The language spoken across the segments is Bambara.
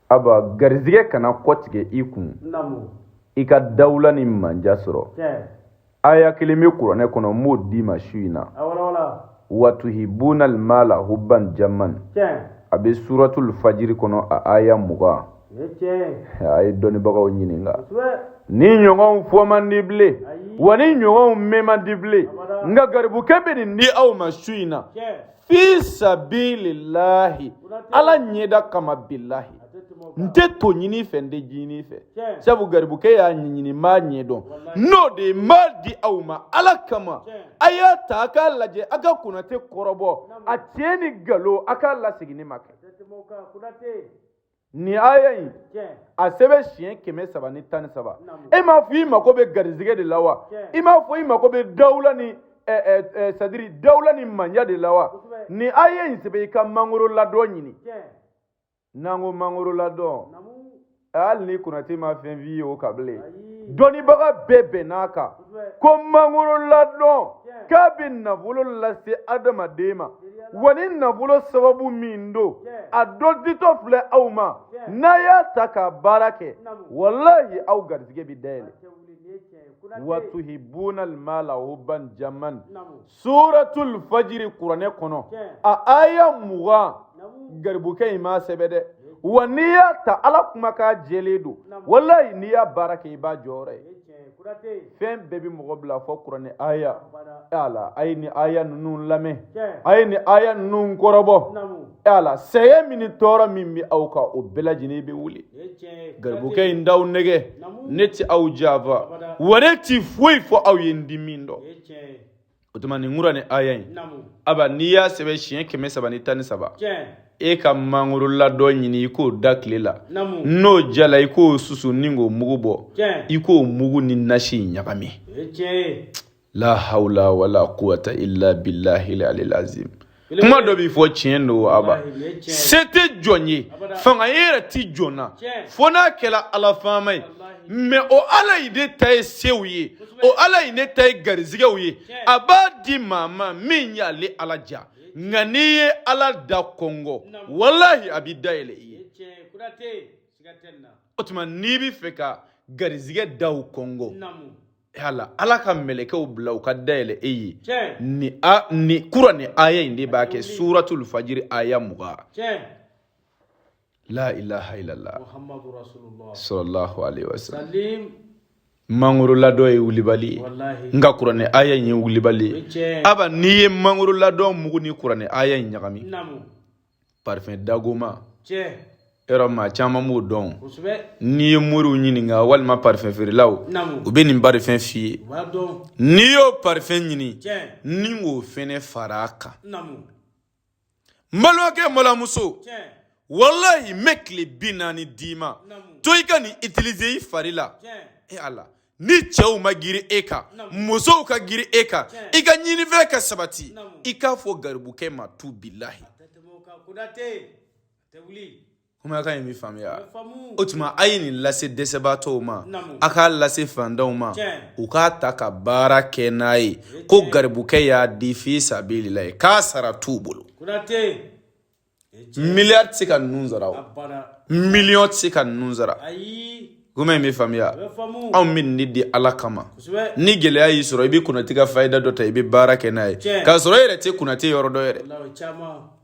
aba garizigɛ kana kɔtigɛ i kun i ka dawula ni mandiya sɔrɔ aya kelen bɛ kuranɛ kɔnɔ n b'o d'i ma su in na watuhibuna almala hubban jamman a bɛ suratul fajiri kɔnɔ a aya mugan a ye dɔnnibagaw ɲininka nin ɲɔgɔnw fɔ man di bilen wa nin ɲɔgɔnw mɛn man di bilen nka garibukɛ bɛ nin di aw ma su in na fi sabilillahi ala ɲɛda kama billahi n tɛ to ɲini fɛ n tɛ ji ɲini fɛ sabu garibukɛ y'a ɲɛɲini n b'a ɲɛdɔn n'o de ye n b'a di aw ma ala kama a y'a ta a k'a lajɛ a ka konate kɔrɔbɔ a tiɲɛ ni nkalon a k'a lasegin ne ma kɛ nin aya in a sɛbɛn siɲɛ kɛmɛ saba ni tan ni saba e m'a fɔ i mako bɛ garizigɛ de la wa i m'a fɔ i mako bɛ dawula ni sadiri dawula ni mandiya de la wa nin aya in sɛbɛn i ka mangoro ladɔn ɲini n'an ko mangoro ladɔn hali ni konate ma fɛn f'i ye o kan bilen dɔnnibaga bɛɛ bɛnn'a kan ko mangoro ladɔn k'a bɛ nafolo lase adamaden ma wa nin nafolo sababu min don a dɔ ditɔ filɛ aw ma n'a y'a ta ka baara kɛ walahi aw garizigɛ bɛ dayɛlɛ watuhibuna almala hubban jamman suratul fajiri kuranɛ kɔnɔ a aya mugan garibukɛ in m'a sɛbɛn dɛ wa n'i y'a ta ala kumakan jɛlen don walayi n'i y'a baara kɛ i b'a jɔyɔrɔ ye fɛn bɛɛ bɛ mɔgɔ bila fo kuranɛ aya ala a ye nin aya ninnu lamɛn a ye nin aya ninnu kɔrɔbɔ ala sɛgɛn min ni tɔɔrɔ min bɛ aw kan o bɛɛ lajɛlen bɛ wuli garibukɛ in t'aw nɛgɛn ne tɛ aw janfa wa ne tɛ foyi fɔ aw ye n tɛ min dɔn o tuma nin kuranɛ aya in aba n'i y'a sɛbɛn siɲɛ kɛmɛ saba ni tan ni saba e ka mangoro ladɔn ɲini i k'o da tile la n'o jala i k'o susu ni k'o mugu bɔ i k'o mugu ni nasi ɲagami la hawla wala quwata illa billahi alil azim kuma dɔ bɛ fɔ tiɲɛ don aba se tɛ jɔn ye fanga yɛrɛ tɛ jɔn na fo n'a kɛra ala faama ye mɛ o ala in de ta ye sew ye o ala in de ta ye garizigɛw ye a b'a di maa ma min y'ale ala diya nka n'i ye ala da kɔnkɔn walahi a bɛ dayɛlɛ i ye o tuma n'i bɛ fɛ ka garizigɛ daw kɔnkɔn yala ala ka mɛlɛkɛw bila u ka dayɛlɛ e ye nin kuranɛ aya in de b'a kɛ suratul fajiri aya mugan la ilaha illallah muhammadur rasulullah sallallahu alaihi wasallam mangoro ladɔn ye wulibali ye nka kuranɛ aya in ye wulibali ye aba n'i ye mangoro ladɔn mugu ni kuranɛ aya in ɲagami parfɛn dagoma tiɲɛ yɔrɔ maa caman b'o dɔn kosɛbɛ n'i ye moriw ɲininka walima parfɛn feerelaw naamu u bɛ nin parfɛn f'i ye u b'a dɔn n'i y'o parfɛn ɲini tiɲɛ n'i k'o fɛnɛ fara a kan naamu n balimakɛ n balimamuso tiɲɛ walayi n bɛ tile bi naani d'i ma naamu to i ka nin utiliser i fari la tiɲɛ e ala ni cɛw ma girin e kan musow ka girin e kan i ka ɲinifɛn ka sabati i k'a fɔ garibukɛ ma tu bilahi kumakan in bɛ faamuya o tuma a ye nin lase dɛsɛbaatɔw ma a k'a lase fantanw ma u k'a ta ka baara kɛ n'a ye ko garibukɛ y'a di fi sabililahi k'a sara t'u bolo miliyari tɛ se ka ninnu sara o miliyɔn tɛ se ka ninnu sara kuma in bɛ faamuya anw bɛ nin de di ala kama ni gɛlɛya y'i sɔrɔ i bɛ konate ka fayida dɔ ta i bɛ baara kɛ n'a ye k'a sɔrɔ e yɛrɛ tɛ konate yɔrɔ dɔn yɛrɛ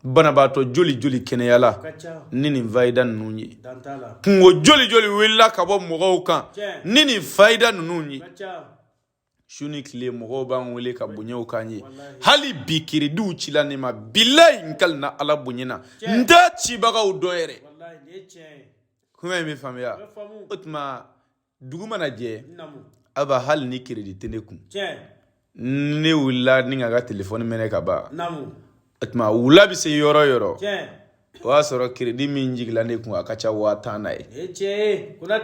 banabaatɔ joli joli kɛnɛyala ni nin fayida ninnu ye kunko joli joli wulila ka bɔ mɔgɔw kan ni nin fayida ninnu ye su ni tile mɔgɔw b'an wele ka bonyaw k'an ye hali bi kiridiw cila ne ma bilayi n kalina ala bonya na n t'a cibagaw dɔn yɛrɛ kuma in bɛ faamuya o tuma dugu mana jɛ aba hali ni kiridi tɛ ne kun ne wulila ni ka n ka telefɔni mɛnɛ ka ban o tuma wula bɛ se yɔrɔ yɔrɔ o y'a sɔrɔ kiridi min jigila ne kun a ka ca waa tan na ye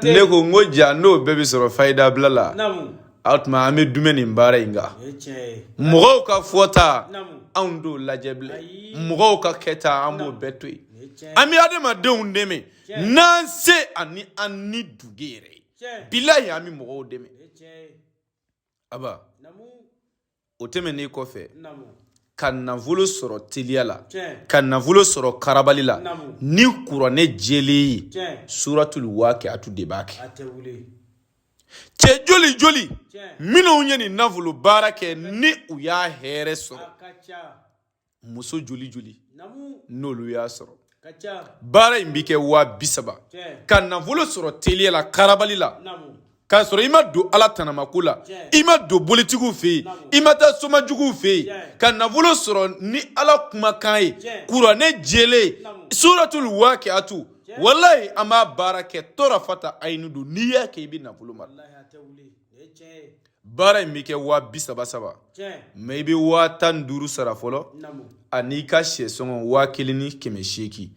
ne ko n ko jaa n'o bɛɛ bɛ sɔrɔ fayidabila la o tuma an bɛ duumɛ nin baara in kan mɔgɔw ka fɔta anw t'o lajɛ bilen mɔgɔw ka kɛta an b'o bɛɛ to yen an bɛ adamadenw dɛmɛ n'an se ani an nidungɔ yɛrɛ ye bilayi an bɛ mɔgɔw dɛmɛ aba o tɛmɛnen kɔfɛ ka nafolo sɔrɔ teliya la ka nafolo sɔrɔ karabali la ni kuranɛ jɛlen ye suratul waqiatu de b'a kɛ cɛ joli joli minnu ye nin nafolo baara kɛ ni u y'a hɛrɛ sɔrɔ muso joli joli n'olu y'a sɔrɔ baara in bɛ kɛ waa bi saba ka nafolo sɔrɔ teliya la karabali la k'a sɔrɔ i ma don ala tanamako la i ma don bolitigiw fɛ yen i ma taa somajuguw fɛ yen ka nafolo sɔrɔ ni ala kumakan ye kuranɛ jɛlen suratul wakiatu walayi an b'a baara kɛ torafata ayinu don n'i y'a kɛ i bɛ nafolo mara baara in bɛ kɛ waa bi saba saba mais i bɛ waa tan ni duuru sara fɔlɔ an'i ka sɛsɔngɔ waa kelen ni kɛmɛ seegin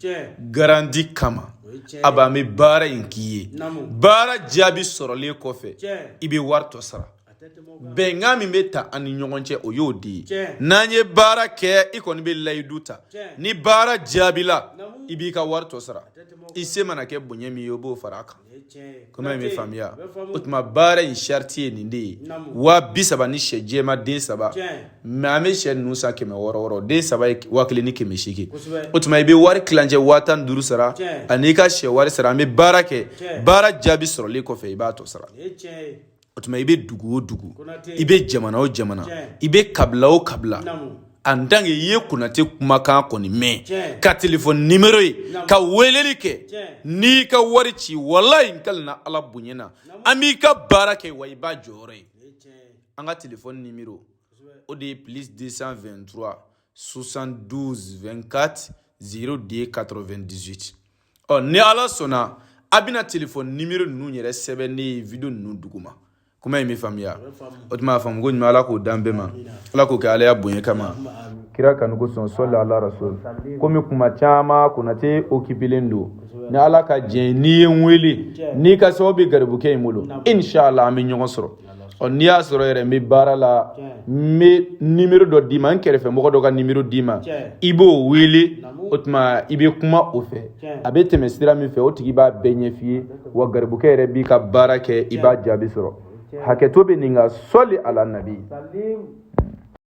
garanti kama a b'an bɛ baara in k'i ye baara jaabi sɔrɔlen kɔfɛ i bɛ wari tɔ sara bɛnkan min bɛ ta an ni ɲɔgɔn cɛ o y'o de ye n'an ye baara kɛ i kɔni bɛ layidu ta ni baara jaabila i b'i ka wari tɔ sara i se mana kɛ bonya min ye o b'o fara a kan kuma in bɛ faamuya o tuma baara in sariti ye nin de ye waa bi saba ni sɛ jɛma den saba mais an bɛ sɛ ninnu san kɛmɛ wɔɔrɔ wɔɔrɔ den saba ye waa kelen ni kɛmɛ seegin o tuma i bɛ wari kilancɛ waa tan ni duuru sara ani i ka sɛ wari sara an bɛ baara kɛ baara jaabi sɔrɔlen kɔfɛ i b'a tɔ sara o tuma i bɛ dugu o dugu i bɛ jamana o jamana i bɛ kabila o kabila en tant que i ye konate kumakan kɔni mɛn ka telefɔni nimero ye ka weleli kɛ n'i ka wari ci walayi n kalina ala bonya na an b'i ka baara kɛ wa i b'a jɔyɔrɔ ye an ka telefɔni nimero o de ye plus 223 72 24 02 98 ɔ ni ala sɔnna a bɛna telefɔni nimero ninnu yɛrɛ sɛbɛn ne ye video ninnu duguma kuma in bɛ faamuya o tuma a faamu ko ɲuman ala k'o d'an bɛɛ ma ala k'o kɛ alaya bonya kama kira kanu kosɔn sɔli ala rasul komi kuma caman konate okipilen don ni ala ka jɛn n'i ye n wele n'i ka sababu bɛ garibukɛ in bolo inshallah an bɛ ɲɔgɔn sɔrɔ ɔ n'i y'a sɔrɔ yɛrɛ n bɛ baara la n bɛ nimero dɔ d'i ma n kɛrɛfɛ mɔgɔ dɔ ka nimero d'i ma i b'o wele o tuma i bɛ kuma o fɛ a bɛ tɛmɛ sira min fɛ o tigi b'a bɛɛ ɲɛf'i ye wa garibukɛ yɛrɛ b'i ka baara kɛ i b'a jaabi sɔrɔ hakɛto bɛ nin kan sɔli ala nabi